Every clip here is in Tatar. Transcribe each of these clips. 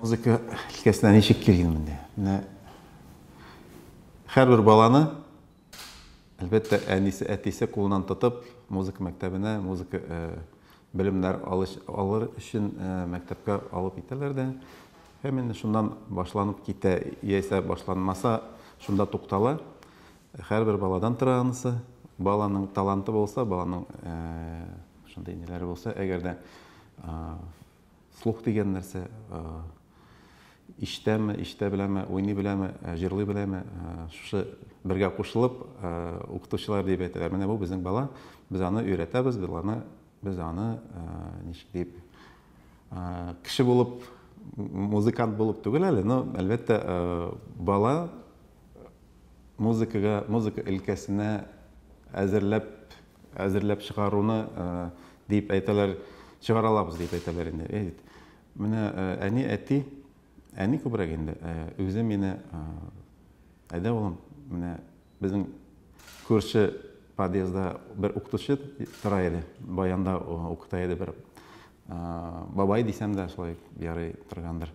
Музыка өлкәсенә ничек килгән инде? Менә һәрбер баланы әлбәттә әнисе, әтисе кулынан тотып, музыка мәктәбенә, музыка э, белемнәр алыш, алыр өчен э, мәктәпкә алып китәләр дә. Һәм инде шуннан башланып китә, яисә башланмаса, шунда туктала. Һәрбер баладан тора анысы. Баланың таланты булса, баланың э, шундый ниләре булса, әгәр дә Слух дигән нәрсә, ишетәме, ишетә беләме, уйный беләме, җырлый беләме, шушы бергә кушылып укытучылар диеп әйтәләр. Менә бу безнең бала, без аны өйрәтәбез, без аны, без аны ничек дип, кеше булып, музыкант булып түгел әле, но, әлбәттә, бала музыкага, музыка өлкәсенә әзерләп әзерләп чыгаруны дип әйтәләр, чыгара алабыз дип әйтәләр инде. Әй бит. Менә әни, әти, әни күбрәк инде үзе мине әйдә улым, менә безнең күрше подъездда бер укытучы тора иде, баянда укыта иде бер бабай дисәм дә шулай ярый торгандыр.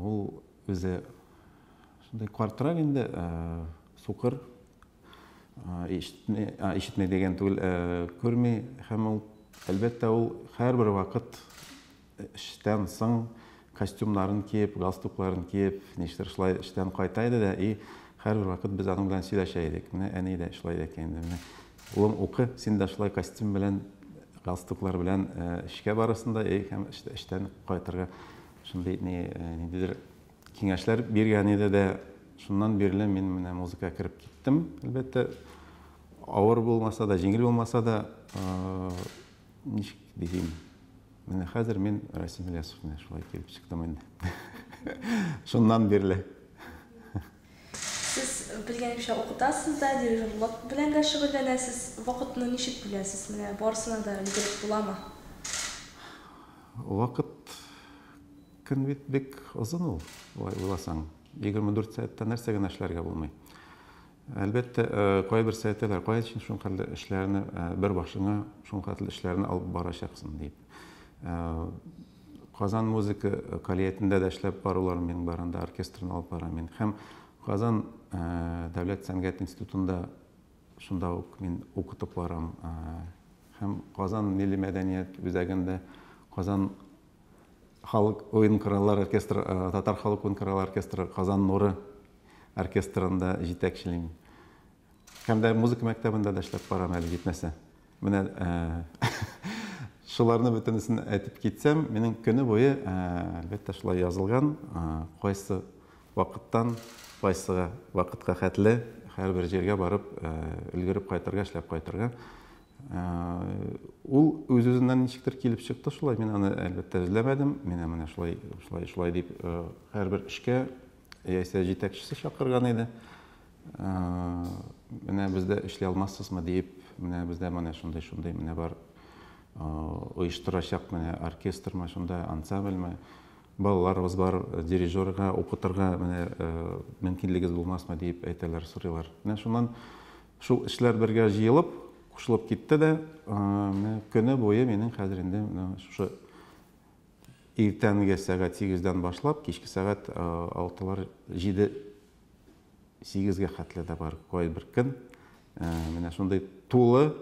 Ул Үзе шундый картрак инде, сукыр. Ишетми, ишетми дигән түгел, күрми һәм ул, әлбәттә, ул һәрбер вакыт эштән соң костюмнарын киеп, галстукларын киеп, нишлер шулай эштән кайта иде дә и һәрбер вакыт без аның белән сөйләшә идек. Менә әни дә шулай икән инде. Менә улым укы, син дә шулай костюм белән, галстуклар белән эшкә барырсың да, и һәм эштән кайтырга Шундый ни, ниндидер киңәшләр биргән иде дә, шуннан бирле мин менә музыкага кереп киттем. Әлбәттә, авыр булмаса да, җиңел булмаса да, ничек дисем, менә хәзер мин Расим Ильясов менә шулай килеп чыктым инде. Шуннан бирле. Сез белгәнемчә укытасыз да, дирижерлык белән дә шөгыльләнәсез. Вакытны ничек бүләсез? Менә барысына да өлгереп буламы? Вакыт, көн бит бик озын ул, болай уйласаң. Егерме дүрт сәгатьтә нәрсә генә эшләргә булмый. Әлбәттә, кайбер сәясәтләр, кая өчен шул хәтле эшләрне бер башыңа, шул хәтле эшләрне алып барачаксың, дип. Казан музыка калиятендә дә эшләп барулар мин бар анда оркестрны алып бара мин. Һәм Казан дәүләт сәнгать институтында шунда ук мин укытып барам. Һәм Казан милли мәдәният үзәгендә Казан халык уен кораллар оркестры, татар халык уен кораллар оркестры Казан нуры оркестрында җитәкчелим. Һәм дә музыка мәктәбендә дә эшләп карармын әле, җитмәсә. Менә шуларны бөтенесен әйтеп китсәм, минем көне буе, әлбәттә, шулай язылган, кайсы вакыттан кайсыга вакытка хәтле һәрбер җиргә барып, өлгереп кайтырга, эшләп кайтырга. Ул үз-үзеннән ничектер килеп чыкты шулай, мин аны, әлбәттә, эзләмәдем. Менә менә шулай, шулай, шулай дип, һәрбер эшкә яисә җитәкчесе чакырган иде. Менә бездә эшли алмассызмы диеп, менә бездә менә шундый шундый менә бар оештырачак менә оркестрмы шунда ансамбльмы балаларыбыз бар дирижерга укытырга менә мөмкинлегегез булмасмы диеп әйтәләр сорыйлар менә шуннан шул эшләр бергә җыелып кушылып китте дә менә көне буе минем хәзер инде менә шушы иртәнге сәгать сигездән башлап кичке сәгать алтылар җиде сигезгә хәтле дә бар кайбер көн менә шундый тулы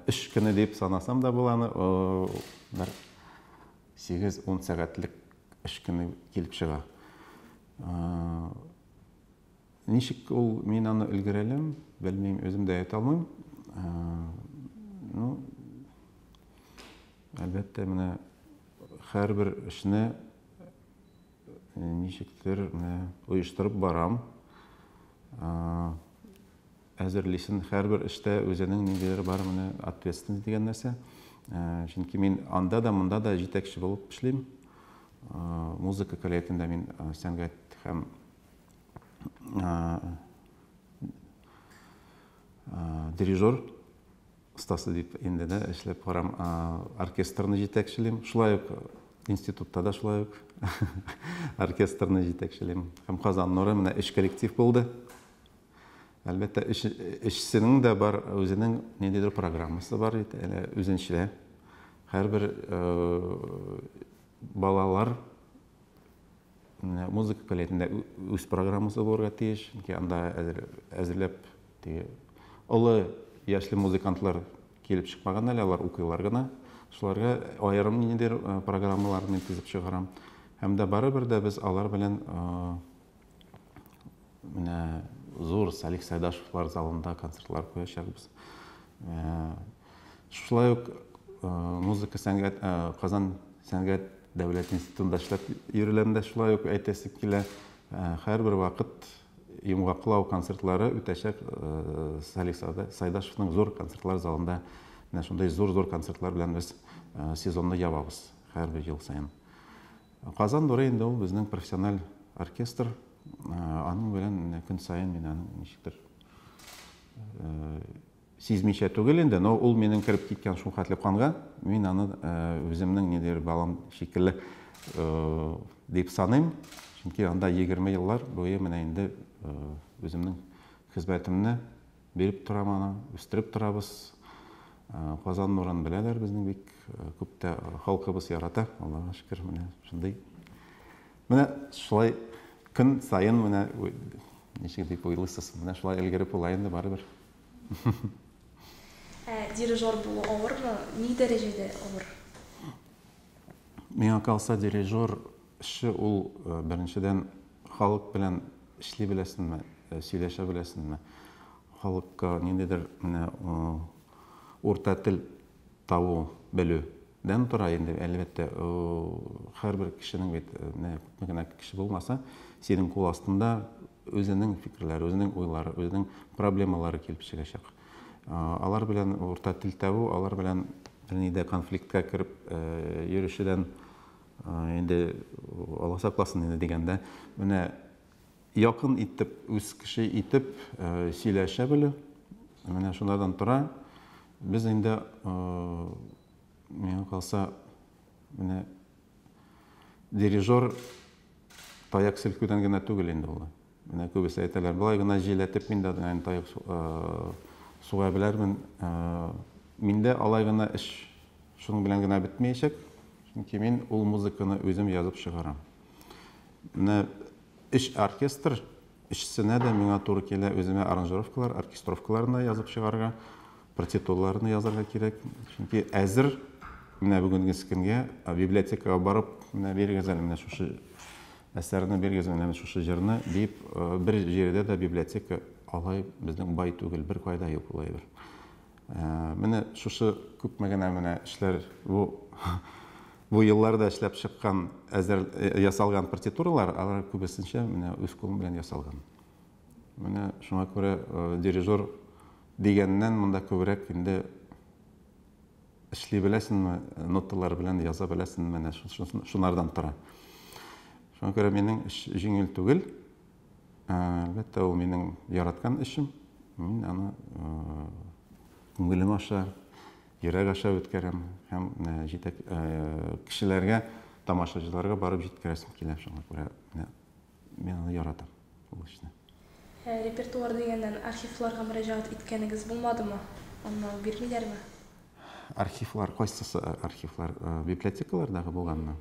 эш көне дип санасам да була аны бер сигез ун сәгатьлек эш көне килеп чыга ничек ул мин аны өлгерәләм белмим үзем дә әйтә алмыйм ну әлбәттә менә һәрбер эшне Ничектер менә оештырып барам. Әзерлисен һәрбер эштә үзенең ниндидер бар менә ответственность дигән нәрсә. Чөнки мин анда да, монда да җитәкче булып эшлим. Музыка көллиятендә мин сәнгать һәм дирижер. Остасы дип инде дә эшләп карам. Оркестрны җитәкчелим. Шулай ук институтта да шулай ук оркестрны җитәкчелим. Һәм Казан нуры менә өч коллектив булды. Әлбәттә, өчсенең дә бар үзенең ниндидер программасы бар бит, әле үзенчә. Һәрбер балалар Музыка көллиятендә үз программасы булырга тиеш, чөнки анда әзерләп теге олы яшьле музыкантлар килеп чыкмаган әле, алар укыйлар гына. Шуларга аерым ниндидер э, программалар мин төзеп чыгарам. Һәм дә барыбер дә без алар белән э, менә зур Салих Сайдашевлар залында концертлар куячакбыз. Э, Шулай ук музыка сәнгать Казан сәнгать дәүләт институтында эшләп йөреләм дә шулай ук әйтәсе килә. Һәрбер вакыт йомгаклау концертлары үтәчәк Салих Сайдашевның зур концертлар залында. Менә шундый зур-зур концертлар белән без сезонны ябабыз һәрбер ел саен. Казан нуры инде ул безнең профессиональ оркестр. Аның белән көн саен мин аның ничектер Сизмичә түгел инде, но ул минем кереп киткән шул хәтле канга, мин аны үземнең ниндидер балам шикелле дип саныйм. Чөнки анда 20 еллар буе менә инде үземнең хезмәтемне биреп торам аны, үстереп торабыз. Казан нурын беләләр безнең бик күп тә халкыбыз ярата. Аллага шөкер, менә шундый Менә шулай көн саен менә ничек дип уйлыйсыз, менә шулай өлгереп була инде барыбер. Ә дирижер булу авырмы, ни дәрәҗәдә авыр? Миңа калса, дирижер эше ул беренчедән халык белән эшли беләсеңме, сөйләшә беләсеңме, халыкка ниндидер менә урта тел табу, белү, Дән тора инде, әлбәттә, һәрбер кешенең бит, менә күпме генә кеше булмаса, синең кул астында үзенең фикерләре, үзенең уйлары, үзенең проблемалары килеп чыгачак. Алар белән урта тел табу, алар белән ни дә конфликтка кереп йөрүчедән инде Алла сакласын инде дигәндә, менә Якын итеп, үз кеше итеп сөйләшә белү, менә шулардан тора. Без инде, миңа калса, менә дирижер таяк селкүдән генә түгел инде ул. Менә күбесе әйтәләр, болай гына җиләтеп мин дә аны таяк суга беләрмен. Миндә алай гына эш шуның белән генә бетмәячәк, чөнки мин ул музыканы үзем язып чыгарам. Менә өч оркестр, өчесенә дә миңа туры килә үземә аранжировкалар, оркестровкаларын да язып чыгарырга, партитураларны язарга кирәк. Чөнки әзер менә бүгенге көнгә библиотекага барып, менә бирегез әле менә шушы әсәрне бирегез, менә шушы җырны дип, бер җирдә дә библиотека алай безнең бай түгел, беркайда юк ул әйбер. Менә шушы күпме генә менә эшләр бу бу елларда эшләп чыккан әзер ясалган партитуралар, алар күбесенчә менә үз кулым белән ясалган. Менә шуңа күрә дирижер дигәннән монда күбрәк инде эшли беләсеңме, ноталар белән яза беләсеңме, менә шунардан тора. Шуңа күрә минем эш җиңел түгел. Әлбәттә, ул минем яраткан эшем. Мин аны күңелем аша, йөрәк аша үткәрәм һәм җитәк кешеләргә, тамашачыларга барып җиткерәсем килә. Шуңа күрә мин аны яратам, ул эшне. Репертуар дигәннән, архивларга мөрәҗәгать иткәнегез булмадымы? Аны бирмиләрме? Архивлар, кайсысы архивлар? Библиотекалардагы булганмы?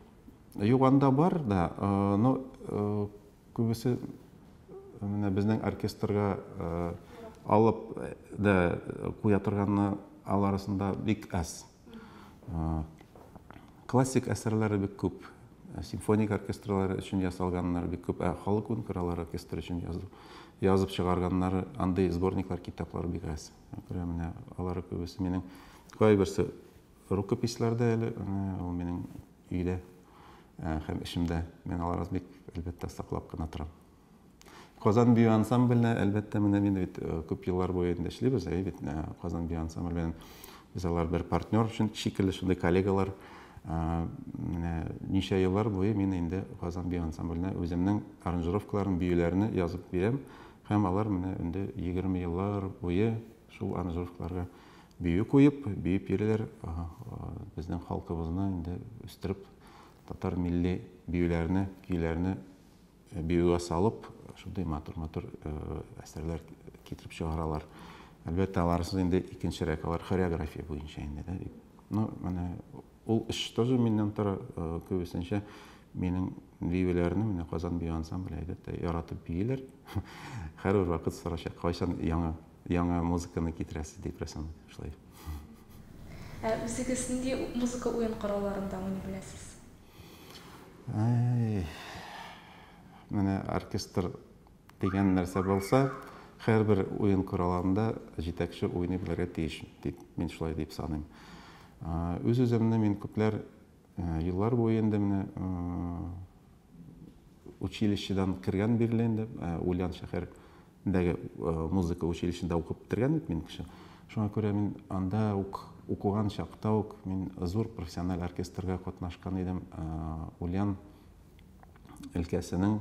Юк, анда бар да, но Күбесе менә безнең оркестрга алып да куя торганны ал арасында бик әз. Классик әсәрләре бик күп. Симфоник оркестрлары өчен ясалганнар бик күп. Ә халык үн кораллар оркестры өчен язып, язып чыгарганнары андый сборниклар, китаплар бик әз. Күрә менә алары күбесе минем кайберсе Рукописьләр дә әле ул минем өйдә һәм эчемдә. Мин аларны бик, әлбәттә, саклап кына торам. Казан бию ансамбленә, әлбәттә, менә мин бит күп еллар буе инде эшлибез, әйе бит, Казан бию ансамбле белән без алар бер партнер шикелле, шундый коллегалар. Менә ничә еллар буе мин инде Казан бию ансамбленә үземнең аранжировкаларын, биюләрне язып бирәм һәм алар менә инде 20 еллар буе Шул аранжировкаларга бию куеп, биеп йөриләр. Безнең халкыбызны инде үстереп, татар милли биюләрне, көйләрне биюгә салып, шундый матур-матур әсәрләр китереп чыгаралар. Әлбәттә, аларсыз инде икенчерәк, алар хореография буенча инде, да, бит. Ну, менә Ул эш тоже миннән тора, э, күбесенчә минем биюләрне менә Казан бию ансамбле әйдәтә яратып бииләр. Һәрбер вакыт сорашә, кайчан яңа яңа музыканы китерәсез дип рәсем шулай. Ә үзегез нинди музыка уен коралларында уйный беләсез? Әй, менә оркестр Дигән нәрсә булса, һәрбер уен коралында җитәкче уйный белергә тиеш, дип, мин шулай дип саныйм. Үз-үземне мин күпләр еллар буе инде менә училищедан кергән бирле инде Ульян шәһәрендәге музыка училищесында укып бетергән бит мин кеше. Шуңа күрә мин анда ук укуган чакта ук мин зур профессиональ оркестрга катнашкан идем. Ульян өлкәсенең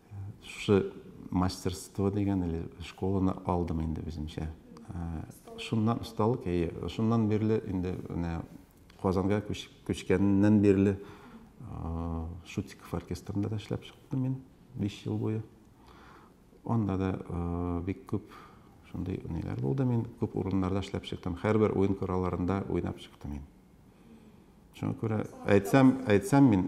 Шушы мастерство дигән или школаны алдым инде үземчә. Шуннан осталык, әйе. Шуннан бирле инде менә Казанга күчкәннән бирле Шутиков оркестрында да эшләп чыктым мин 5 ел буе. Анда да бик күп шундый ниләр булды. Мин күп урыннарда эшләп чыктым. Һәрбер уен коралларында уйнап чыктым мин. Шуңа күрә әйтсәм, әйтсәм мин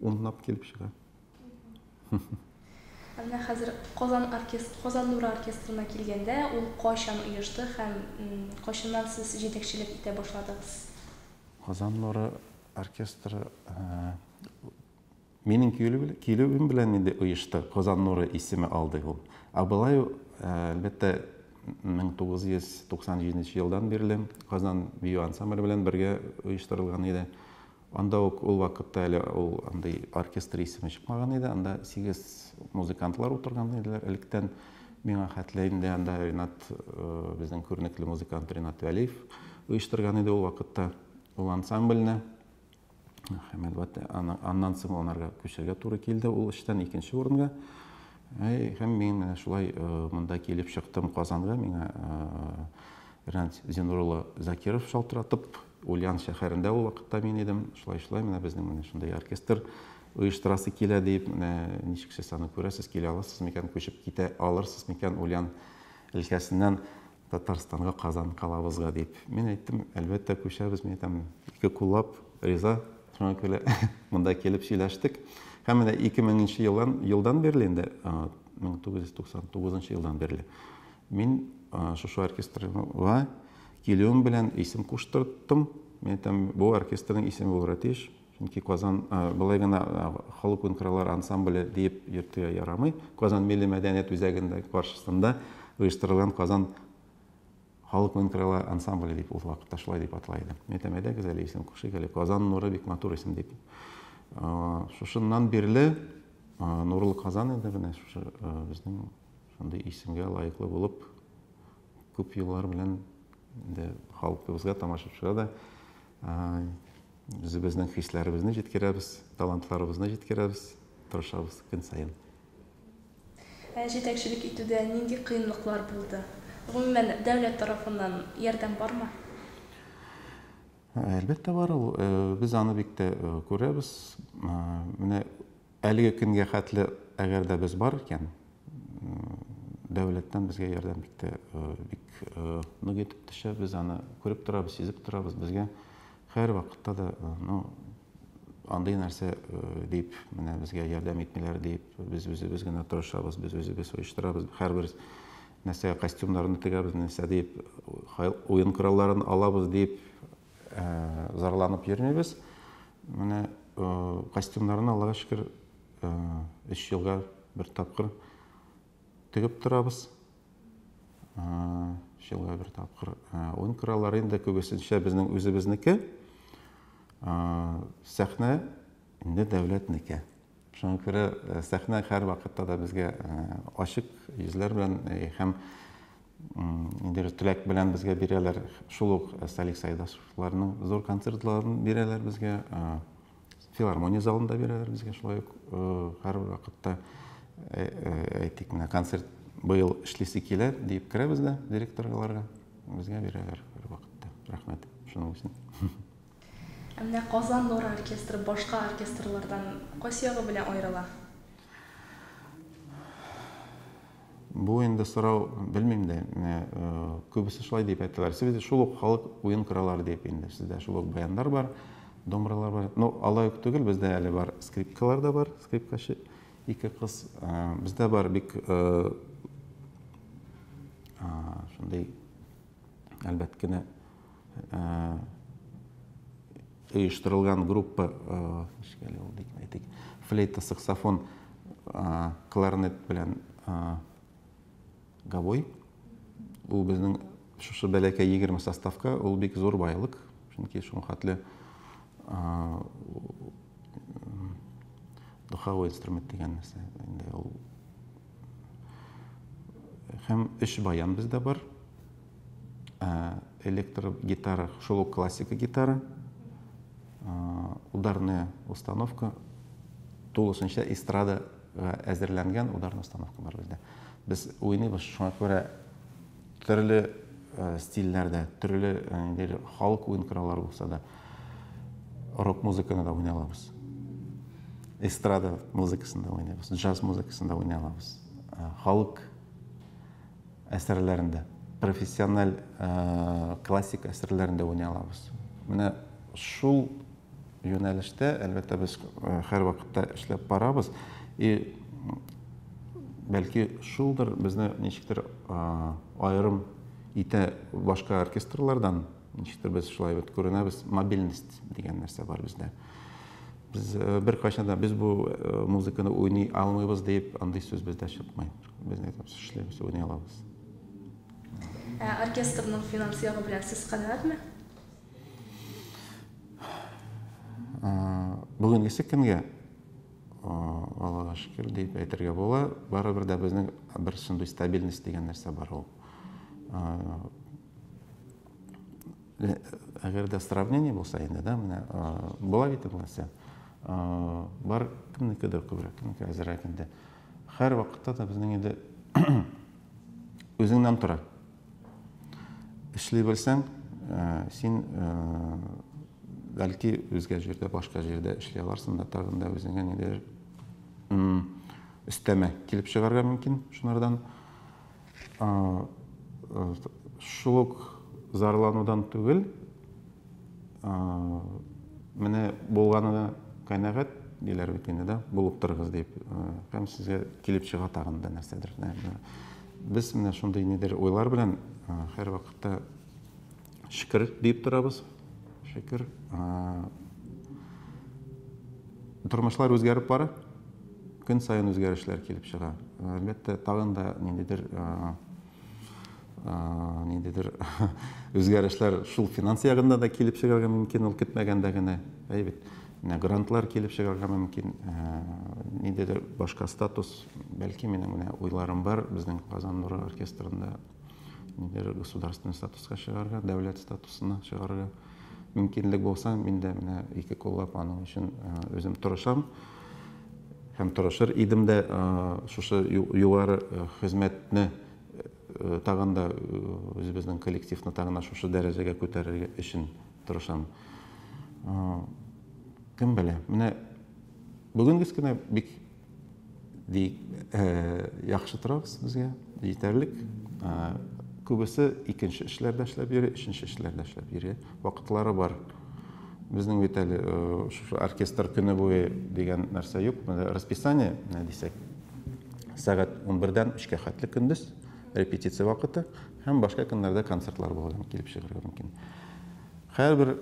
Унлап килеп чыга. Ә менә хәзер Казан оркестр, Казан нуры оркестрына килгәндә, ул кайчан оешты һәм кайчаннан сез җитәкчелек итә башладыгыз? Казан нуры оркестры минем килүем белән инде оешты, Казан нуры исеме алды ул. Ә болай, әлбәттә, 1997 елдан бирле Казан бию ансамбле белән бергә оештырылган иде. Анда ук ул вакытта әле ул андый оркестр исеме чыкмаган иде. Анда сигез музыкантлар утырган иделәр электән. Миңа хәтле инде анда Ренат, э, безнең күренекле музыкант Ренат Вәлиев оештырган иде ул вакытта ул ансамбльне. Хәмәлбәт аннан соң анарга күчәргә туры килде ул эштән икенче урынга. Һәм мин менә шулай монда килеп чыктым Казанга, миңа Рәнт Зинур улы Закиров шалтыратып, Ульян шәһәрендә ул вакытта мин идем, шулай-шулай менә безнең менә шундый оркестр оештырасы килә дип, менә ничек сез аны күрәсез, килә аласыз микән, күчеп китә алырсыз микән Ульян өлкәсеннән Татарстанга, Казан калабызга, дип. Мин әйттем, әлбәттә, күчәбез, мин әйтәм, ике куллап риза, шуңа күрә монда килеп сөйләштек. Һәм менә 2000 нче елдан, елдан бирле инде, 1999 нчы елдан бирле мин шушы оркестрга килүем белән исем куштырттым. Мин әйтәм, бу оркестрның исеме булырга тиеш, Чөнки Казан болай гына халык уен кораллары ансамбле диеп йөртергә ярамый. Казан милли мәдәният үзәгендә каршысында оештырылган Казан халык уен коралы ансамбле дип ул вакытта шулай дип атала иде. Мин әйтәм, әйдәгез әле исем кушыйк әле. Казан нуры бик матур исем дип. Шушыннан бирле Нурлы Казан инде менә шушы безнең шундый исемгә лаеклы булып күп еллар белән инде халкыбызга, тамашачыга да Үзебезнең хисләребезне җиткерәбез, талантларыбызны җиткерәбез, тырышабыз көн саен. Ә җитәкчелек итүдә нинди кыенлыклар булды? Гомумән, дәүләт тарафыннан ярдәм бармы? Әлбәттә бар ул. Без аны бик тә күрәбез. Менә Әлеге көнгә хәтле, әгәр дә без бар икән, дәүләттән безгә ярдәм бик тә бик нык итеп төшә. Без аны күреп торабыз, сизеп торабыз. Безгә һәрвакытта да, ну, андый нәрсә дип, менә безгә ярдәм итмиләр дип, без үзебез генә тырышабыз, без үзебез оештырабыз. Һәрбер нәрсә костюмнарны тегәбез, нәрсә дип, уен коралларын алабыз дип, Зарланып йөрмибез. Менә костюмнарны, Аллага шөкер, өч елга бер тапкыр тегеп торабыз. Өч елга бер тапкыр. Уен кораллары инде күбесенчә безнең үзебезнеке. Сәхнә инде дәүләтнеке. Шуңа күрә сәхнә һәрвакытта да безгә ачык йөзләр белән һәм бер теләк белән безгә бирәләр. Шул ук Салих Сәйдашевларның зур концертларын бирәләр безгә. Филармония залында бирәләр безгә шулай ук һәр вакытта әйтик менә концерт быел эшлисе килә дип керәбез дә директорларга безгә бирәләр һәр вакытта. Рәхмәт шуның өчен. Ә менә Казан Нур оркестры башка оркестрлардан кайсы ягы белән аерыла? Бу инде сорау, белмим дә, менә э, күбесе шулай дип әйтәләр. Сез шул ук халык уен кораллары дип инде. Сездә шул ук баяндар бар, домралар бар. Ну, алай ук түгел, бездә әле бар скрипкалар да бар, скрипкачы ике кыз. Э, бездә бар бик э, шундый әлбәт кенә оештырылган группа флейта саксофон кларнет белән гавой ул безнең шушы бәләкәй егерме составка ул бик зур байлык чөнки шул хәтле духовой инструмент дигән нәрсә инде ул Һәм өч баян бездә бар. Электр гитара, шул ук классика гитара. Ударная установка, тулысынча эстрадаға әзерләнгән ударная установка бар бездә. Без уйныйбыз, шуңа күрә Төрле стильләрдә, төрле инде халык уен кораллары булса да, рок музыканы да уйный алабыз. Эстрада музыкасын да уйныйбыз, джаз музыкасын да уйный алабыз. Халык әсәрләрендә, профессиональ классик әсәрләрендә уйный алабыз. Менә шул юнәлештә, әлбәттә, без э, һәрвакытта эшләп барабыз. И бәлки шулдыр безне ничектер аерым итә башка оркестрлардан, ничектер без шулай бит күренәбез, мобильность дигән нәрсә бар бездә. Без э, бер кайчан да без бу э, музыканы уйный алмыйбыз дип андый сүз бездә чыкмый. Без не әйтәбез, эшләбез, уйный алабыз. Ә оркестрның финанс ягы белән сез канәгатьме? Бүгенгесе көнгә Аллага шөкер дип әйтергә була. Барыбер дә безнең бер шундый стабильность дигән нәрсә бар ул. Әгәр дә сравнение булса инде, да, менә була бит ул нәрсә. Бар кемнекедер күбрәк, кемнеке әзерәк инде. Һәр вакытта да безнең инде үзеңнән тора. Эшли белсәң, э, син э, бәлки үзгә җирдә, башка җирдә эшли аларсың да, тагын да үзеңә нидер өстәмә килеп чыгарга мөмкин шунардан. Э, шул ук зарланудан түгел, менә булганына канәгать диләр бит инде да, булып торыгыз дип. Һәм сезгә килеп чыга тагын да нәрсәдер. Без менә шундый нидер уйлар белән һәр вакытта шөкер диеп торабыз. Шөкер. Тормышлар үзгәреп бара. Көн саен үзгәрешләр килеп чыга. Әлбәттә, тагын да ниндидер ниндидер үзгәрешләр шул финанс ягында да килеп чыгарга мөмкин, ул көтмәгәндә генә. Әйбәт. Менә грантлар килеп чыгарга мөмкин, ниндидер башка статус Бәлки минем генә уйларым бар, безнең Казан нуры оркестрында нидер государственный статуска чыгарга, дәүләт статусына чыгарга мөмкинлек булса, мин дә менә ике куллап аның өчен үзем тырышам һәм тырышыр идем дә шушы югары хезмәтне тагын да үзебезнең коллективны тагын да шушы дәрәҗәгә күтәрергә өчен тырышам. Кем белә? Менә бүгенгес кенә бик Бик э, яхшы торабыз безгә, җитәрлек. Э, күбесе икенче эшләрдә эшләп йөри, өченче эшләрдә эшләп йөри. Вакытлары бар. Безнең бит әле э, оркестр көне буе дигән нәрсә юк. Расписание, менә дисәк, сәгать 11-дән 3-кә хәтле көндез репетиция вакыты һәм башка көннәрдә концертлар булган килеп чыгарга мөмкин. Һәрбер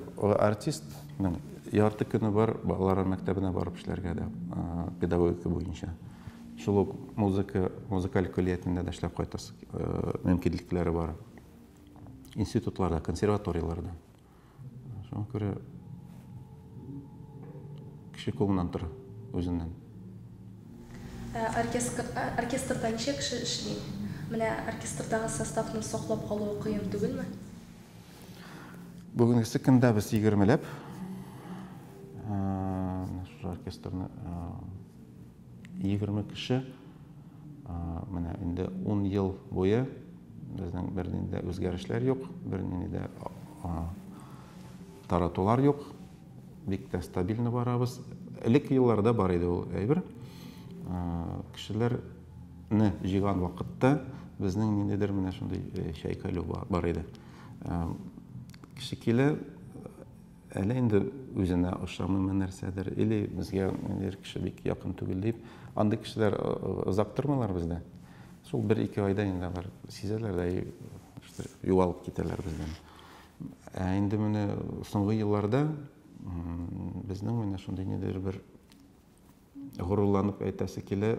артистның ярты көне бар балалар мәктәбенә барып эшләргә дә, педагогика буенча. Шул ук музыка, музыкаль көллиятендә дә эшләп кайтасы мөмкинлекләре бар. Институтларда, консерваторияләрдә. Шуңа күрә кеше кулыннан тора, үзеннән. Оркестрда ничә кеше эшли? Менә оркестрдагы составны саклап калуы кыен түгелме? Бүгенгесе көндә без егермеләп оркестрны егерме кеше менә инде ун ел буе безнең бернинди дә үзгәрешләр юк бернинди дә таратулар юк бик тә стабильно барабыз элек елларда бар иде ул әйбер кешеләр Ны җыйган вакытта безнең ниндидер менә шундый э, чайкалю бар иде. Э, кеше килә, әле инде үзенә ошамыймы нәрсәдер, или безгә ниндидер кеше бик якын түгел дип, андый кешеләр озак тормыйлар бездә. Шул бер-ике айда инде алар сизәләр дә югалып китәләр бездән. Ә инде менә соңгы елларда безнең менә шундый ниндидер бер горурланып әйтәсе килә,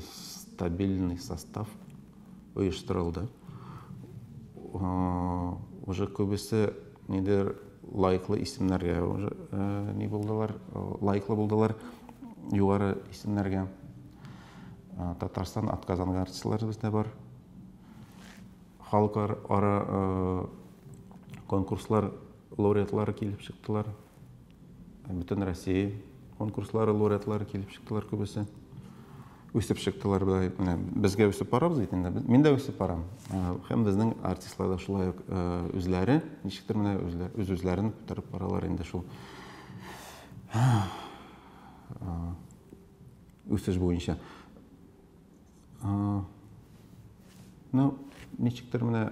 стабильный состав оештырылды. Уже күбесе нидер лайклы исемнәргә уже ни булдылар, лайклы булдылар югары исемнәргә. Татарстан атказанган артистларыбыз да бар. Халыкара конкурслар лауреатлары килеп чыктылар. Бөтен Россия конкурслары лауреатлары килеп чыктылар күбесе. Үсеп чыктылар да. Менә безгә үсеп барабыз бит инде. Мин дә үсеп барам. Һәм безнең артистлар да шулай ук үзләре, ничектер менә үз-үзләрен күтәреп баралар инде шул үсеш буенча. Ну, ничектер менә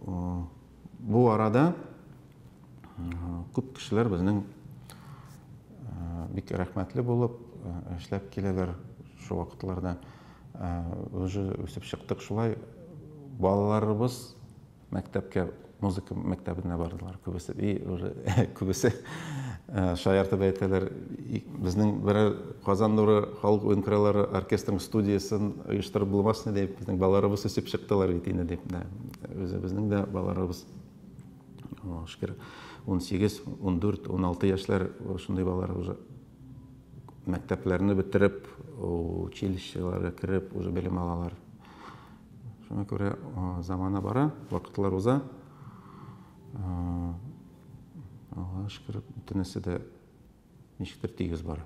Бу арада күп кешеләр безнең бик рәхмәтле булып эшләп киләләр шул вакытларда. Уже үсеп чыктык шулай. Балаларыбыз мәктәпкә, музыка мәктәбенә бардылар күбесе. И уже күбесе шаяртып әйтәләр, Безнең берәр Казан нуры халык уен кораллары оркестрының студиясен оештырып булмасмы дип, безнең балаларыбыз үсеп чыктылар бит инде дип, үзебезнең дә балаларыбыз шөкер 18, 14, 16 яшьләр шундый балалар уже мәктәпләрне бетереп, училищеларга кереп уже белем алалар. Шуңа күрә замана бара, вакытлар уза. Аллага шөкер, бөтенесе дә ничектер тигез бара.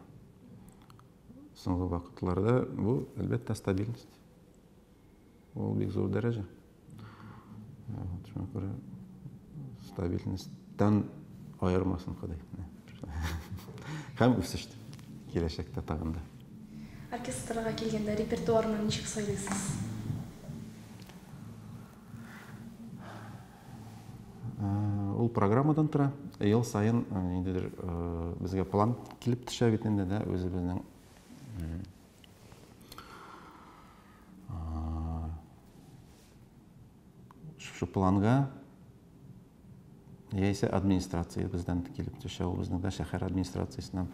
Соңгы вакытларда бу, әлбәттә, стабильность. Ул бик зур дәрәҗә. Шуңа күрә стабильностьтан аермасын Ходай. Һәм үсеш киләчәктә тагын да. Оркестрга килгәндә репертуарны ничек сайлыйсыз? Ул программадан тора. Ел саен ниндидер безгә план килеп төшә бит инде, да, үзебезнең шушы планга яисә администрация бездән килеп төшә, ул безнең дә шәһәр администрациясеннән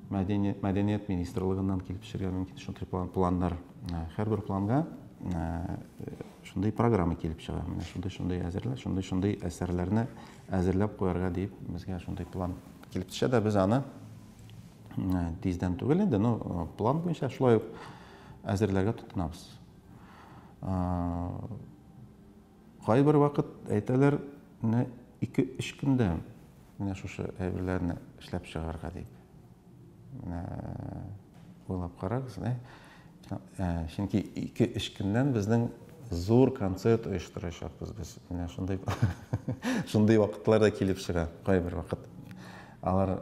Мәдәният, мәдәният министрлыгыннан килеп төшергә мөмкин шундый планнар. Һәрбер планга шундый программа килеп чыга. Менә шундый-шундый әзерлә, шундый-шундый әсәрләрне әзерләп куярга дип безгә шундый план килеп төшә дә без аны тиздән түгел инде, но план буенча шулай ук әзерләргә тотынабыз. Кайбер вакыт әйтәләр, менә ике-өч көндә менә шушы әйберләрне эшләп чыгарга дип. Менә уйлап карагыз, ә? Ә, чөнки ике-өч көннән безнең зур концерт оештырачакбыз без. Менә шундый шундый вакытлар да килеп чыга кайбер вакыт. Алар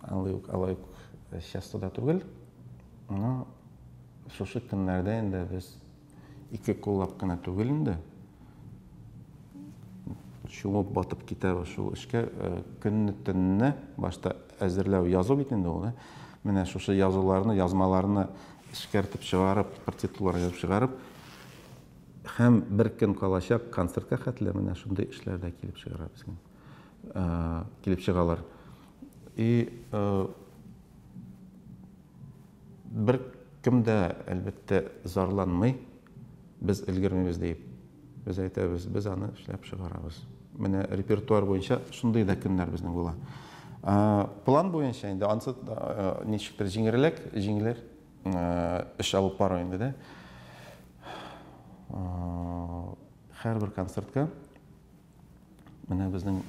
алай ук алай ук часто да түгел. Но шушы көннәрдә инде без Ике куллап кына түгел инде. Чумып батып китәбез шул эшкә. Э, көнне төнне башта әзерләү язу бит инде ул. Э. Менә шушы язуларны, язмаларны эшкәртеп чыгарып, партитулар язып чыгарып, һәм бер көн калачак концертка хәтле менә шундый эшләрдә килеп чыгара безгә. э, килеп чыгалар. И э, бер кем дә, әлбәттә, зарланмый, без өлгермибез дип. Без әйтәбез, без аны эшләп чыгарабыз. Менә репертуар буенча шундый да көннәр безнең була. Э, план буенча инде ансы э, ничектер җиңерлек, җиңелер э, эш алып бару инде дә. Һәрбер концертка Менә безнең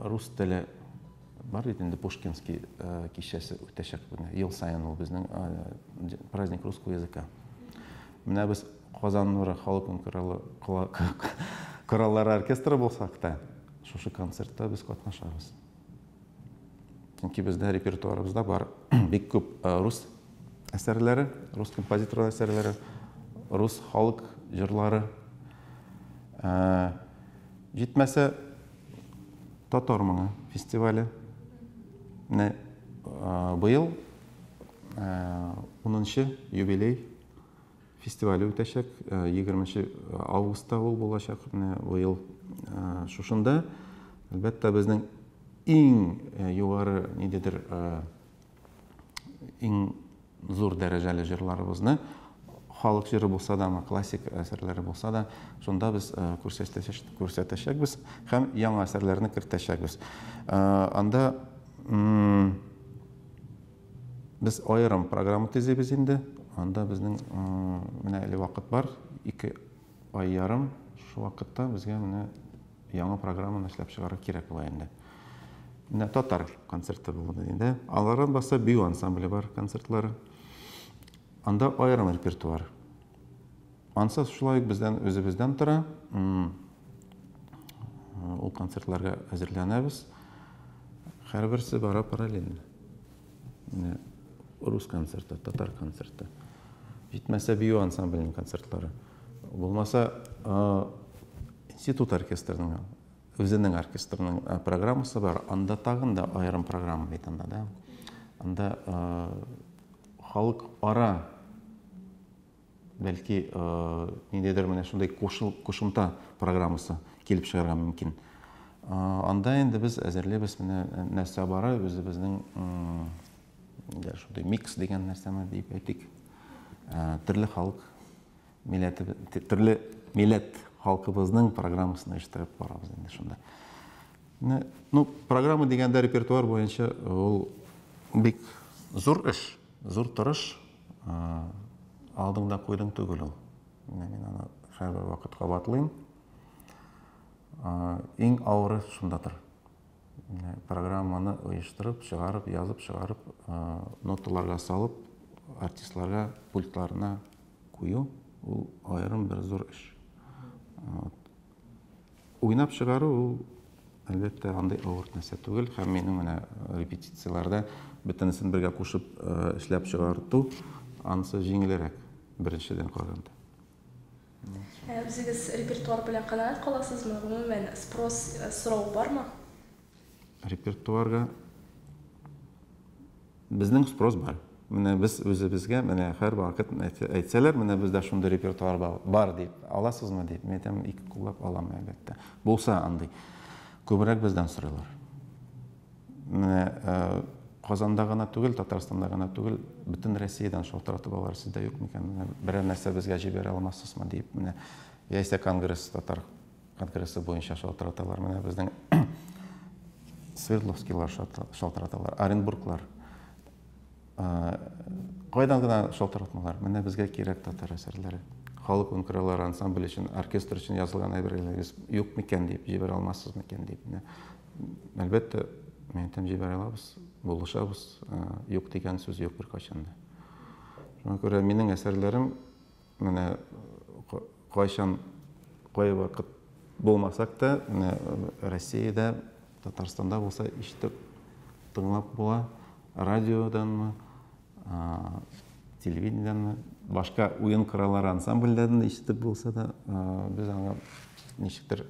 рус теле бар бит инде Пушкинский э, кичәсе үтәчәк менә ел саен ул безнең э, праздник русского языка. Менә без Казан нуры халык кораллары оркестры булсак та, шушы концертта без катнашабыз. Чөнки бездә репертуарыбызда бар бик күп э, рус әсәрләре, рус композитор әсәрләре, рус халык җырлары. Э, җитмәсә татар моңы фестивале. Менә э, быел 10 юбилей Фестивале үтәчәк. Егерменче августта ул булачак менә быел шушында. Әлбәттә, безнең иң югары ниндидер иң зур дәрәҗәле җырларыбызны халык җыры булса да, классик әсәрләре булса да, шунда без күрсәтәчәкбез һәм яңа әсәрләрне кертәчәкбез. Анда Без аерым программа төзибез инде. Анда безнең менә әле вакыт бар, ике ай ярым. Шул вакытта безгә менә яңа программаны эшләп чыгару кирәк була инде. Менә татар концерты булды инде. Алардан башка бию ансамбле бар концертлары. Анда аерым репертуар. Ансыз шулай ук бездән үзебездән тора. Ул концертларга әзерләнәбез. Һәрберсе бара параллельно. Менә рус концерты, татар концерты. Җитмәсә бию ансамбленең концертлары. Булмаса институт оркестрының үзенең оркестрының программасы бар. Анда тагын да аерым программа бит анда, да. Анда халык ара Бәлки, ниндидер менә шундый кушымта программасы килеп чыгарга мөмкин. Анда инде без әзерлибез менә нәрсә бара, үзебезнең шундый микс дигән нәрсәме дип әйтик. Төрле халык милләте, төрле милләт халкыбызның программасын оештырып барабыз инде шунда. Ну, программа дигәндә репертуар буенча ул бик зур эш, зур тырыш, Алдыңда куйдың түгел ул. Менә мин аны һәрбер вакыт кабатлыйм. Иң авыры шундадыр. Программаны оештырып, чыгарып, язып, чыгарып, ноталарга салып, артистларга пультларына кую, ул аерым бер зур эш. Уйнап чыгару ул, әлбәттә, андый авыр нәрсә түгел. Һәм минем менә репетицияләрдә бөтенесен бергә кушып эшләп чыгарту, анысы җиңелрәк беренчедән караганда. Ә үзегез репертуар белән канәгать каласызмы? Гомумән, спрос, сорау бармы? Репертуарга безнең спрос бар. Менә без үзебезгә менә һәр вакыт әйтсәләр, менә бездә шундый репертуар бар дип, аласызмы дип, мин әйтәм, ике куллап алам, әлбәттә. Булса андый. Күбрәк бездән сорыйлар. Менә э, Казанда гына түгел, Татарстанда гына түгел, бөтен Россиядән шалтыратып алар сездә юк микән? Менә берәр нәрсә безгә җибәрә алмассызмы дип, менә яисә конгресс татар Конкрессы буенча шалтыраталар. Менә безнең Свердловскийлар шалтыраталар, Оренбурглар. Кайдан гына шалтыратмалар. Менә безгә кирәк татар әсәрләре. Халык ункрылар ансамбль өчен, оркестр өчен язылган әйберләрегез юк микән дип, җибәрә алмассыз микән дип. Әлбәттә, мен әйтәм, җибәрә алабыз, булышабыз. Юк дигән сүз юк беркайчан да. Шуңа күрә минем әсәрләрем Менә кайчан, кай вакыт булмасак та, менә Россиядә, Татарстанда булса ишетеп, тыңлап була. Радиоданмы, телевидениедәнме, башка уен кораллары ансамбльдән ишетеп булса да, без аңа ничектер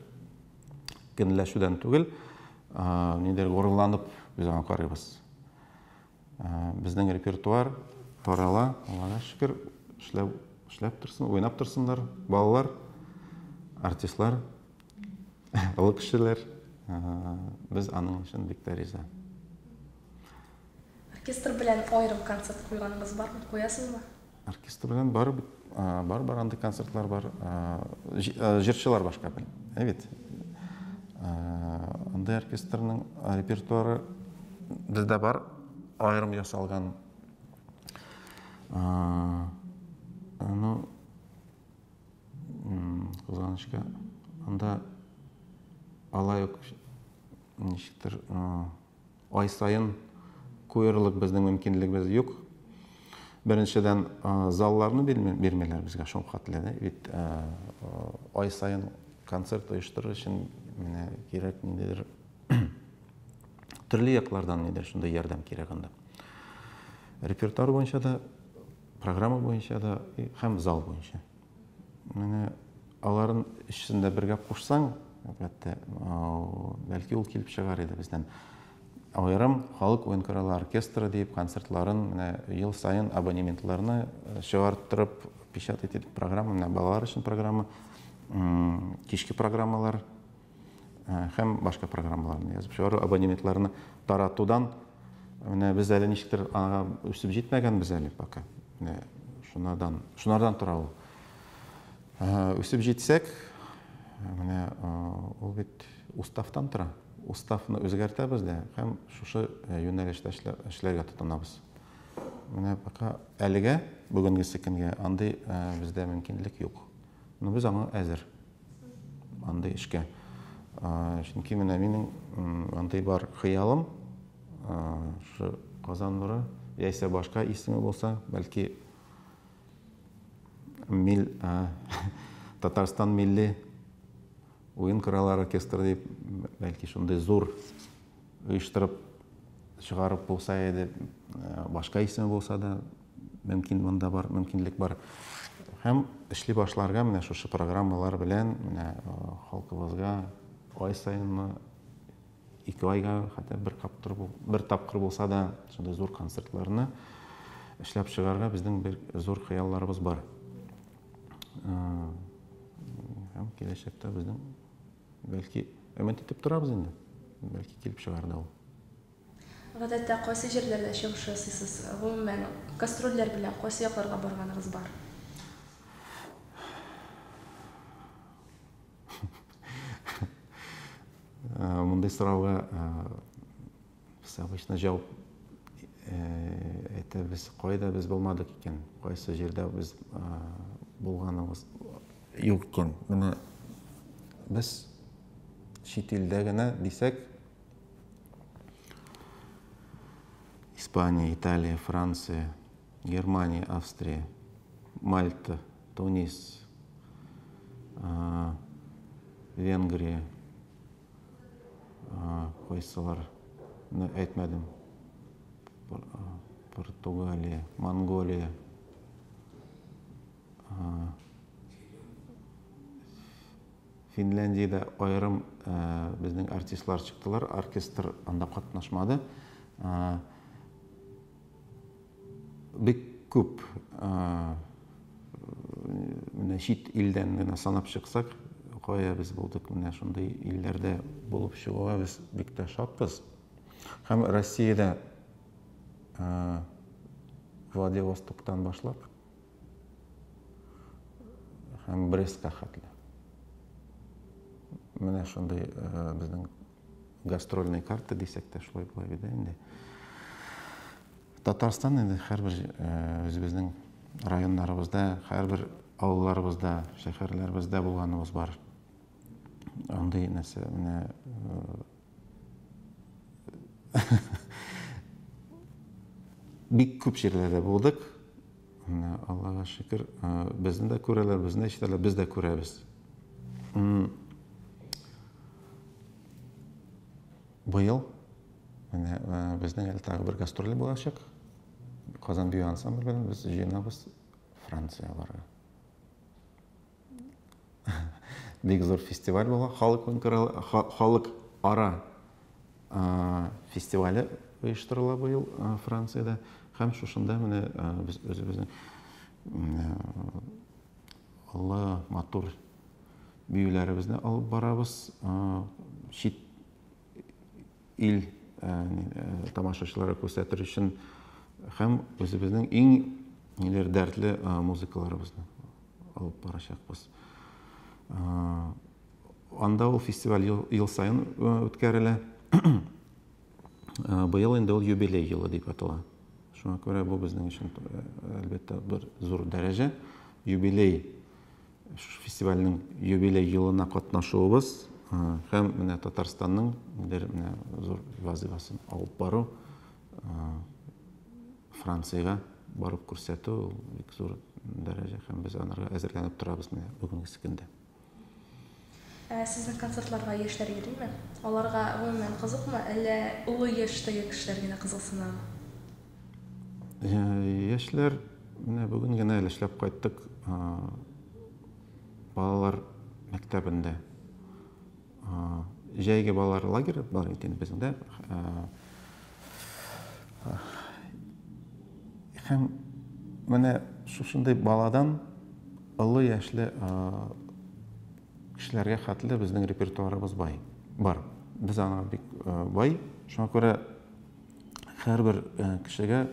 көнләшүдән түгел, нидер горурланып без аңа карыйбыз. Безнең репертуар тарала, Аллага шөкер, эшләп, эшләп торсын, уйнап торсыннар балалар, артистлар, олы кешеләр. Без аның өчен бик тә риза. Оркестр белән аерым концерт куйганыгыз бармы, куясызмы? Оркестр белән бар бит, бар бар андый концертлар бар. Җырчылар башка бит. Ә бит. Андый оркестрның репертуары бездә бар, аерым ясалган. Ну, кызганычка, анда алай ук ничектер Ай саен куерлык безнең мөмкинлегебез юк. Беренчедән, залларны бирмиләр безгә шулхәтле дә. Бит ай саен концерт оештырыр өчен менә кирәк ниндидер төрле яклардан нидер шундый ярдәм кирәк анда. Репертуар буенча да, программа буенча да һәм зал буенча. Менә аларын өчесен дә бергә кушсаң, әлбәттә, бәлки ул килеп чыгар иде бездән. Аерым халык уен-коралы оркестры дип концертларын менә ел саен абонементларны э, чыгарттырып, печатать итеп программа, менә балалар өчен программа, кичке программалар, һәм башка программаларны язып чыгару, абонементларны таратудан менә без әле ничектер аңа үсеп җитмәгәнбез әле пока. Менә шунардан, шунардан тора ул. Үсеп җитсәк, менә ул бит уставтан тора. Уставны үзгәртәбез дә һәм шушы юнәлештә эшләргә тотынабыз. Менә пока әлегә бүгенге секундга андый бездә мөмкинлек юк. Но без аңа әзер. андый эшкә. Чөнки менә минем андый бар хыялым, шушы Казан нуры яисә башка исеме булса, бәлки мил Татарстан милли уен кораллар оркестры дип, бәлки шундый зур оештырып чыгарып булса иде, башка исеме булса да, Мөмкин монда бар, мөмкинлек бар. Һәм эшли башларга менә шушы программалар белән менә халкыбызга ай саенмы, ике айга хәтта бер каптыр бер тапкыр булса да шундый зур концертларны эшләп чыгарга безнең бер зур хыялларыбыз бар. Һәм киләчәктә безнең бәлки өмет итеп торабыз инде. Бәлки килеп чыгар да ул. Гадәттә кайсы җирләрдә чыгыш ясыйсыз? Гомумән, гастрольләр белән кайсы якларга барганыгыз бар? Мондый сорауга без обычно җавап әйтәбез, кайда без булмадык икән, кайсы җирдә без булганыбыз юк икән. Менә без чит илдә генә дисәк, Испания, Италия, Франция, Германия, Австрия, Мальта, Тунис, Венгрия, кайсылар әйтмәдем. Португалия, Монголия, Финляндиядә аерым безнең артистлар чыктылар, оркестр анда катнашмады. Бик күп менә чит илдән генә санап чыксак, кая без булдык, менә шундый илләрдә булып чыгуга без бик тә шатбыз. Һәм Россиядә Владивостоктан башлап, һәм Брестка хәтле. Менә шундый э, безнең гастрольный карта дисәк тә шулай була бит инде. Татарстан инде һәрбер э, үзебезнең районнарыбызда, һәрбер авылларыбызда, шәһәрләребездә булганыбыз бар. Андый нәрсә менә э, Бик күп җирләрдә булдык. Аллага шөкер, безне дә күрәләр, безне ишетәләр, без дә күрәбез. Быел менә безнең әле тагы бер гастроль булачак. Казан бию ансамбле белән без җыенабыз Франциягә барырга. Бик зур фестиваль була, халык халык ара фестивале оештырыла быел Франциядә һәм шушында менә без үзебезнең олы матур биюләребезне алып барабыз. Чит ил тамашачылары күрсәтер өчен һәм үзебезнең иң ниләр дәртле музыкаларыбызны алып барачакбыз. Анда ул фестиваль ел саен үткәрелә. Быел инде ул юбилей елы дип атала. Шуңа күрә бу безнең өчен әлбәттә бер зур дәрәҗә. Юбилей Шушы фестивальнең юбилей елына катнашуыбыз һәм менә Татарстанның бер менә зур вазыйфасын алып бару, Франциягә барып күрсәтү, бик зур дәрәҗә һәм без анарга әзерләнеп торабыз менә бүгенге көндә. Ә сезнең концертларга яшьләр йөриме? Аларга гомумән кызыкмы, әллә олы яшьтәге кешеләр генә кызыксынамы? Яшьләр, менә бүген генә әле эшләп кайттык, балалар мәктәбендә. Җәйге балалар лагере бар икән бездә. Һәм менә шушындый баладан олы яшьле кешеләргә хәтле безнең репертуарыбыз бай. Бар. Без аңа бик бай. Шуңа күрә һәрбер кешегә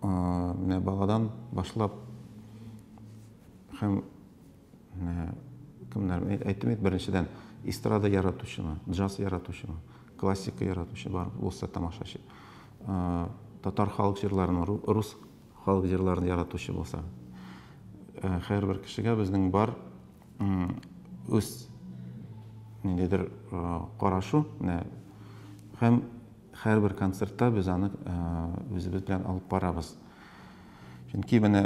менә баладан башлап һәм кемнәр әйттем бит беренчедән эстрада яратучымы джаз яратучымы классика яратучы бар булса тамашачы татар халык җырларын рус халык җырларын яратучы булса һәрбер кешегә безнең бар үз ниндидер карашу менә һәм һәрбер концертта без аны үзебез белән алып барабыз Чөнки менә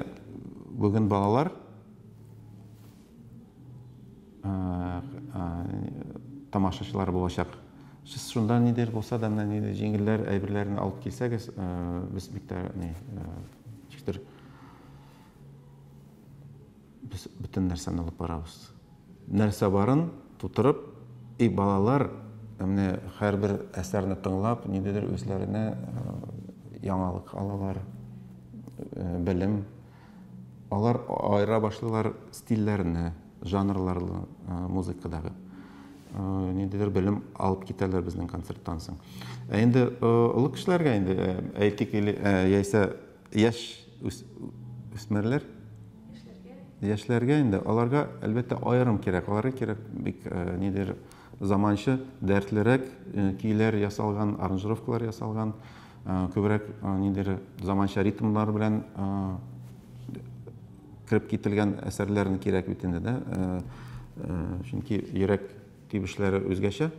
бүген балалар тамашачылар булачак. Сез шунда ниндидер булса да, менә ниндидер җиңелләр әйберләрне алып килсәгез, без бик тә ни, Без бөтен нәрсәне алып барабыз. Нәрсә барын тутырып, и балалар, менә һәрбер әсәрне тыңлап, ниндидер үзләренә яңалык алалар, белем. Алар аера башлыйлар стильләрне, жанрларны музыкадагы. Ниндидер белем алып китәләр безнең концерттан соң. Ә инде олы кешеләргә инде әйтик или яисә Яшь үсмерләр яшьләргә инде аларга әлбәттә аерым кирәк аларга кирәк бик э, нидер заманча дәртлерәк э, көйләр ясалган аранжировкалар ясалган э, күбрәк нидер заманча ритмлар белән кереп кителгән әсәрләрне кирәк бит инде да чөнки йөрәк тибешләре үзгәчә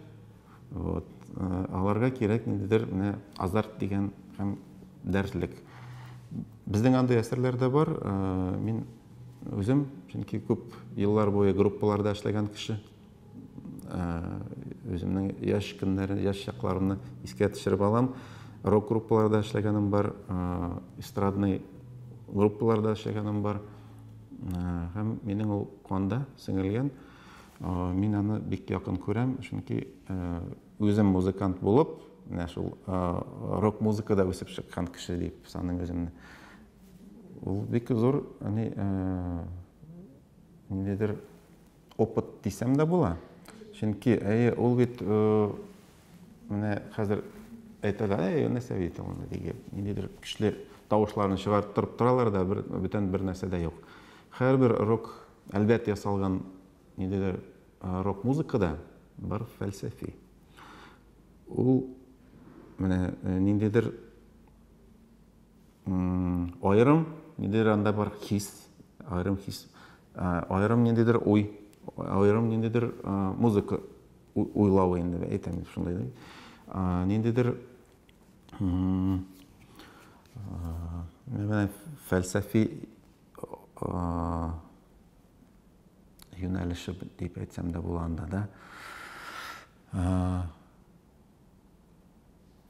Вот. Э, аларга кирәк ниндидер менә азарт дигән һәм дәртлек. Безнең андый әсәрләр дә бар. Э, мин үзем, чөнки күп еллар буе группаларда эшләгән кеше, э, үземнең яшь көннәре, яшь чакларымны искә төшереп алам. Рок группаларда эшләгәнем бар, эстрадный группаларда эшләгәнем бар. Һәм минем ул канда сеңелгән. Мин аны бик якын күрәм, чөнки үзем музыкант булып, менә шул рок музыкада үсеп чыккан кеше дип саныйм үземне. Ул бик зур, әни, ниндидер опыт дисәм дә була. Чөнки, әйе, ул бит менә хәзер әйтәләр, әй, нәрсә бит ул, диген, ниндидер көчле тавышларны чыгарып торып торалар да, бөтен бер нәрсә дә юк. Һәрбер рок Әлбәт, ясалган ниндидер рок музыка да бер фәлсәфи. Ул менә ниндидер аерым, ниндидер анда бар хис, аерым хис, аерым ниндидер уй, аерым ниндидер музыка уйлавы инде әйтәм шундай да. Ниндидер менә фәлсәфи юнәлеше дип әйтсәм дә була анда да.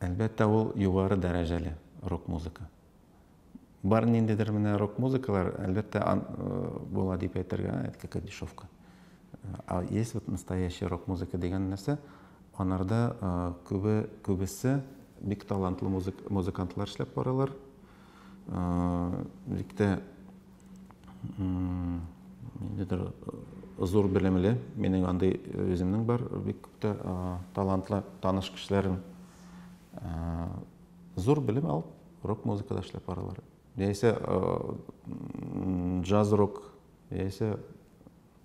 Әлбәттә, ул югары дәрәҗәле рок музыка. Бар ниндидер менә рок музыкалар, әлбәттә, була дип әйтергә, әйтке кадишовка. А есть вот настоящий рок музыка дигән нәрсә, анарда күбе күбесе бик талантлы музыкантлар эшләп баралар. бик тә ниндидер зур белемле, минең андый үземнең бар, бик күп тә талантлы таныш кешеләрем зур белем алып, рок музыкада эшләп баралар. Яисә джаз-рок, яисә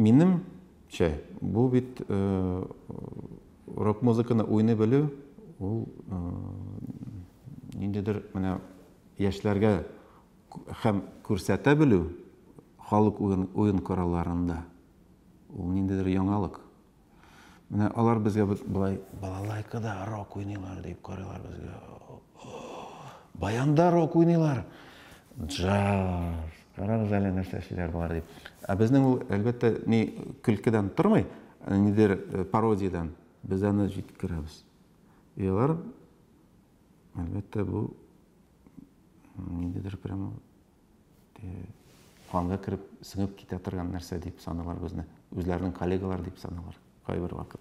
Минемчә, бу бит рок-музыканы уйный белү, ул ниндидер менә яшьләргә һәм күрсәтә белү халык уен коралларында, ул ниндидер яңалык. Менә алар безгә былай балалайкада рок уйныйлар дип карыйлар безгә. Баянда рок уйныйлар. Джаз. Карагыз әле нәрсә эшлиләр болар дип. Ә безнең ул әлбәттә ни көлкедән тормый, ә нидер э, пародиядән. Без аны җиткерәбез. И алар әлбәттә бу ниндидер прямо канга кереп сеңеп китә торган нәрсә дип саныйлар безне үзләренең коллегалар дип саныйлар кайбер вакыт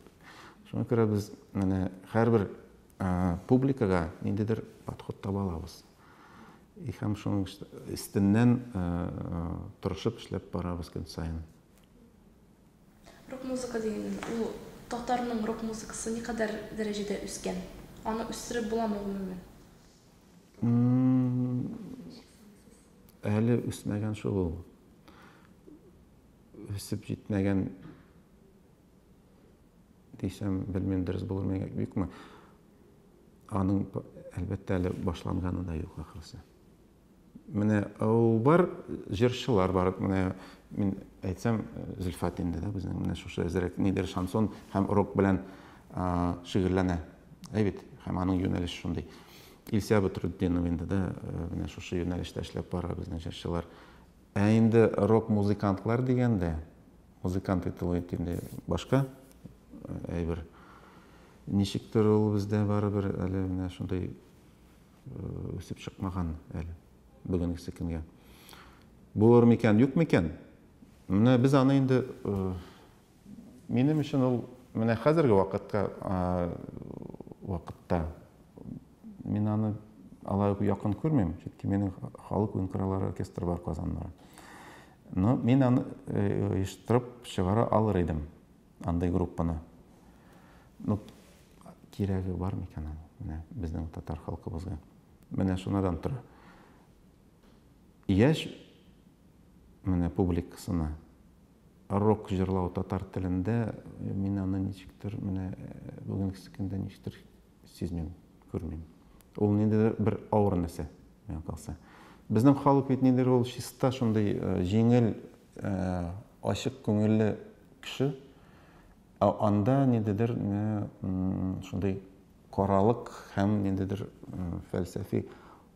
шуңа күрә без менә һәрбер публикага ниндидер подход таба алабыз и һәм шуның өстеннән тырышып эшләп барабыз көн саен рок музыка дигән ул татарның рок музыкасы никадәр дәрәҗәдә үскән аны үстереп буламы гомумән Әле үсмәгән шул ул. Үсеп җитмәгән дисәм, белмим, дөрес булырмы юкмы. Аның, әлбәттә, әле башланғаны да юк, ахрысы. Менә ул бар, җырчылар бар. Менә мин әйтсәм, Зөлфәт инде дә безнең менә шушы әзрәк нидер шансон һәм рок белән шигырьләнә. Әй бит, һәм аның юнәлеше шундый. Илсә Бәдретдинов инде дә менә шушы юнәлештә эшләп бара безнең җырчылар. Ә инде рок-музыкантлар дигәндә, музыкант итү бит инде башка әйбер. Ничектер ул бездә барыбер әле менә шундый Үсеп чыкмаган әле бүгенгесе көнгә. Булыр микән, юк микән? Менә без аны инде минем өчен ул менә хәзерге вакытка вакытта мин аны алай ук якын күрмим, чөнки минем халык уен кораллары оркестры бар Казанда. Но мин аны оештырып чыгара алыр идем. Андый группаны. Ну, кирәге бар микән аны? Менә безнең татар халкыбызга. Менә шунадан тора. Яшь менә публикасына рок җырлау татар телендә э, мин аны ничектер менә э, бүгенге көндә ничектер сизмим, күрмим. Ул ниндидер бер авыр нәрсә, миңа калса. Безнең халык бит ниндидер ул чиста шундый э, җиңел Ачык күңелле кеше. Ә анда ниндидер шундый каралык һәм ниндидер фәлсәфи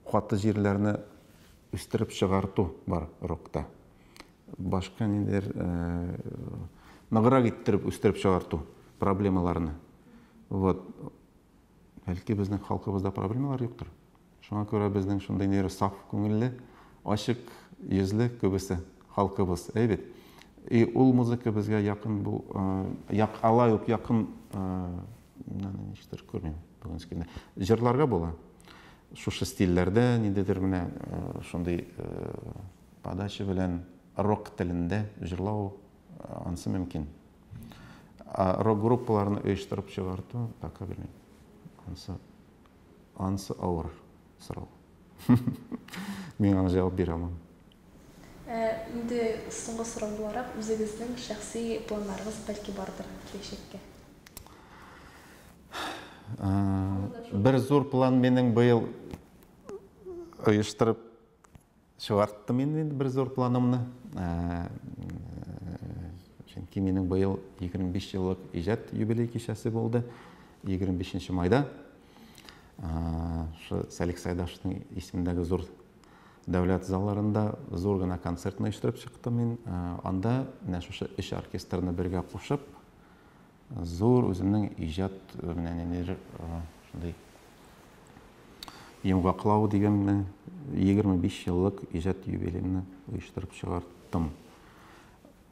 каты җирләрне үстереп чыгарту бар рокта. Башка ниндидер ныграк иттереп үстереп чыгарту проблемаларны. Вот. Бәлки безнең халкыбызда проблемалар юктыр? Шуңа күрә безнең шундый нервы саф күңелле, ачык йөзле күбесе халкыбыз, әй бит? И ул музыка безгә якын бу, як алай ук якын, аны ничектер күрмим бүгенге көндә. Җырларга була. Шушы стильләрдә, ниндидер менә шундый подача белән рок телендә җырлау, ансы мөмкин. Рок-группаларны оештырып чыгарту, пока белмим. Ансы. Ансы авыр сорау. Мин аңа җавап бирә алмам. Ә инде соңгы сорау буларак, үзегезнең шәхси планнарыгыз бәлки бардыр киләчәккә? Бер зур план минем быел оештырып Чыгарттым инде бер зур планымны. Чөнки минем быел 25 еллык иҗат юбилей кичәсе булды. 25 нче майда шы Сәлик Сайдашның исемендәге зур дәүләт залларында зур гына концерт оештырып чыктым мин. Анда менә шушы өч оркестрны бергә кушып, Зур үземнең иҗат менә ниндидер шундый йомгаклау дигәнме, 25 еллык иҗат юбилеемны оештырып чыгарттым.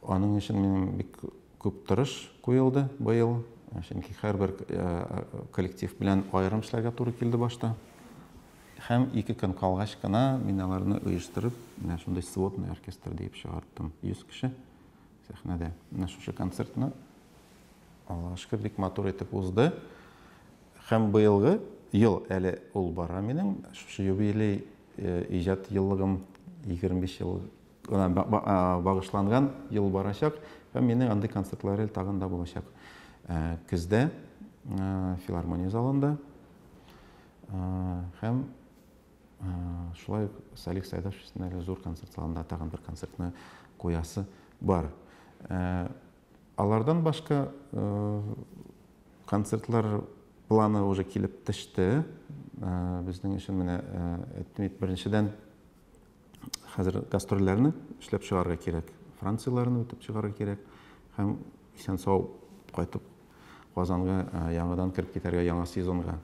Аның өчен минем бик күп тырыш куелды быел, чөнки һәрбер коллектив белән аерым эшләргә туры килде башта. Һәм ике көн калгач кына мин аларны оештырып, менә шундый сводный оркестр диеп чыгарттым, 100 кеше. Сәхнәдә менә шушы концертны, Аллага шөкер, бик матур итеп узды. Һәм быелгы ел әле ул бара минем, шушы юбилей э, иҗат еллыгым 25 ел багышланган ел барачак һәм минем андый концертлар тагын да булачак. Э, көздә э, филармония залында һәм шулай ук салих сәйдәшев өчен әле зур концерт залында тагын бер концертны куясы бар алардан башка концертлар планы уже килеп төште безнең өчен менә әйтмик беренчедән хәзер гастрольләрне эшләп чыгарга кирәк францияләрне үтеп чыгарга кирәк һәм исән сау кайтып казанга яңадан кереп китәргә яңа сезонга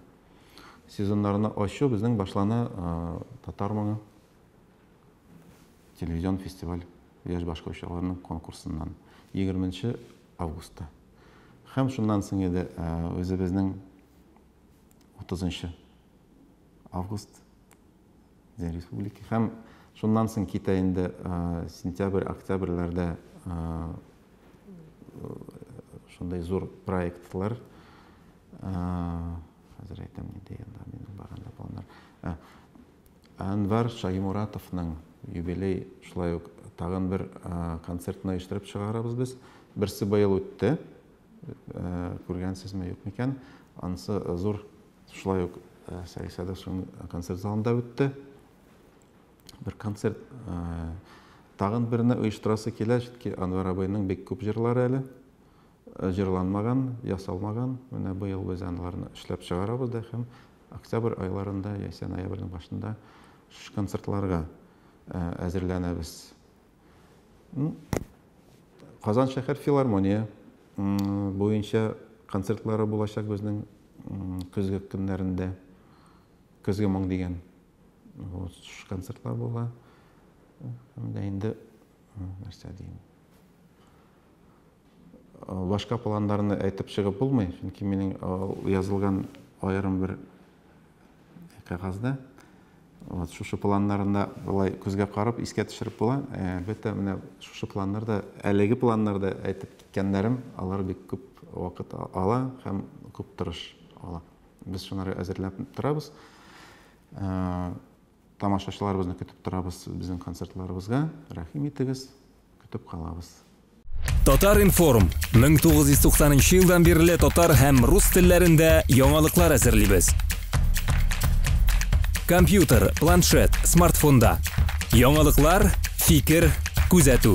сезоннарны ачу безнең башлана татар моңы телевизион фестиваль яшь башкаручыларның конкурсыннан 20 августта һәм шуннан соң иде үзебезнең 30 август республика һәм шуннан соң китә инде сентябрь октябрьләрдә шундай зур проектлар хәзер әйтәм нинди елда минем барганда планнар әнвар шаимуратовның юбилей шулай ук тагын бер концертны оештырып чыгарабыз без берсе быел үтте күргәнсезме юк микән анысы зур Шулай ук Сәгыйд Садыйковның концерт залында үтте. Бер концерт тагын берне оештырасы килә, чөнки Анвар абыйның бик күп җырлары әле җырланмаган, ясалмаган. Менә быел без аларны эшләп чыгарабыз да һәм октябрь айларында яисә ноябрьнең башында концертларга әзерләнәбез. Казан шәһәр филармония буенча концертлары булачак безнең көзге көннәрендә. Көзге моң дигән концертлар була. Инде нәрсә дим. Башка планнарны әйтеп чыгып булмый, чөнки минем язылган аерым бер кәгазьдә вот шушы планнарында былай күзгә карап искә төшереп була әлбәттә менә шушы планнарда әлеге планнарда әйтеп киткәннәрем алар бик күп вакыт ала һәм күп тырыш ала без шуларны әзерләп торабыз Тамашачыларыбызны көтеп торабыз безнең концертларыбызга, рәхим итегез, көтеп калабыз. Татар-информ, 1990 нчы елдан бирле татар һәм рус телләрендә яңалыклар әзерлибез. Компьютер, планшет, смартфонда. Яңалыклар, фикер, күзәтү.